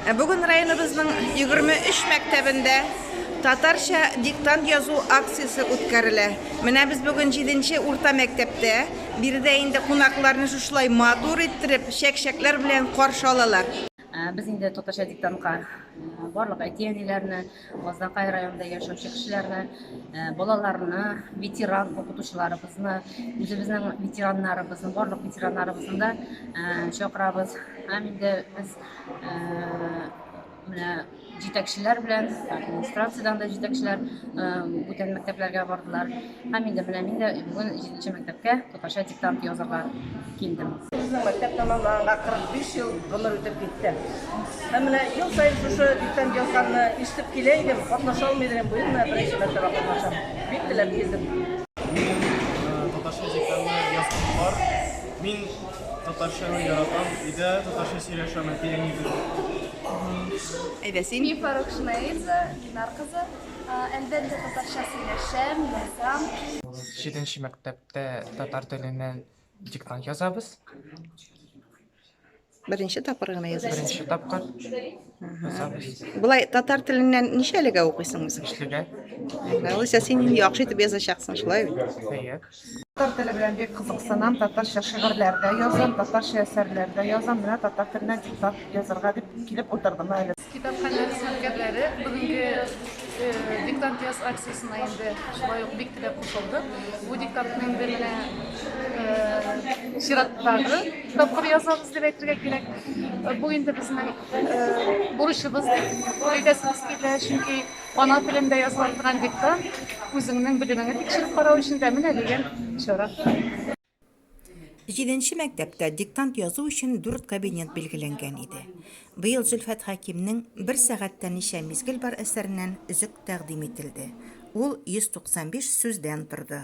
Ә бүген районыбызның 23 мәктәбендә татарча диктант язу акциясе үткәрелә. Менә без бүген 7 урта мәктәптә. Биредә инде кунакларны шушылай матур иттереп, чәк-чәкләр белән каршы алалар. Без инде татарча диктантка барлык әти-әниләрне, Мазнакай районында яшәүче кешеләрне, балаларны, ветеран укытучыларыбызны, үзебезнең ветераннарыбызны, барлык ветераннарыбызны да чакырабыз. Һәм инде без менә җитәкчеләр белән, администрациядән дә җитәкчеләр бүтән мәктәпләргә бардылар. Һәм мин дә беләм, мин дә бүген җиденче мәктәпкә татарча диктант язырга килдем. Безнең мәктәп тәмамланганга 45 ел гомер үтеп китте. Һәм менә ел саен шушы диктант язганны ишетеп килә идем, катнаша алмый идем, быел менә беренче мәртәбә катнашам. Бик теләп килдем. Мин татарча диктантны язган бар. Мин татарчаны яратам, өйдә татарча сөйләшәм әти-әни белән. Әйдә син. Мифа Рукшинаидзе, Динар кызы. Әлбәттә, татарча сөйләшәм, язам. Җиденче мәктәптә татар теленнән диктант язабыз. Беренче тапкыр гына язасыз. Беренче тапкыр язабыз. Болай татар теленнән ничәлегә укыйсың үзең? Өчлегә. Алайса син инде яхшы итеп язачаксың, шулай бит? Әйе. Татар теле белән бик кызыксынам, татарча шигырьләр дә язам, татарча әсәрләр дә язам. Менә татар теленә диктант язарга дип килеп утырдым әле. Китапханә хезмәткәрләре бүгенге диктант яз акциясенә инде шулай ук бик теләп кушылды. Бу диктантны инде менә чираттагы тапкыр язабыз дип әйтергә кирәк. Бу инде безнең бурычыбыз дип әйтәсебез килә, чөнки Ана телендә языла торган диктант, үзеңнең белемеңне тикшереп карау өчен дә менә дигән чара. Җиденче мәктәптә диктант язу өчен дүрт кабинет билгеләнгән иде. Быел Зөлфәт Хәкимнең Бер сәгатьтә ничә мизгел бар әсәреннән өзек тәкъдим ителде. Ул 195 сүздән торды.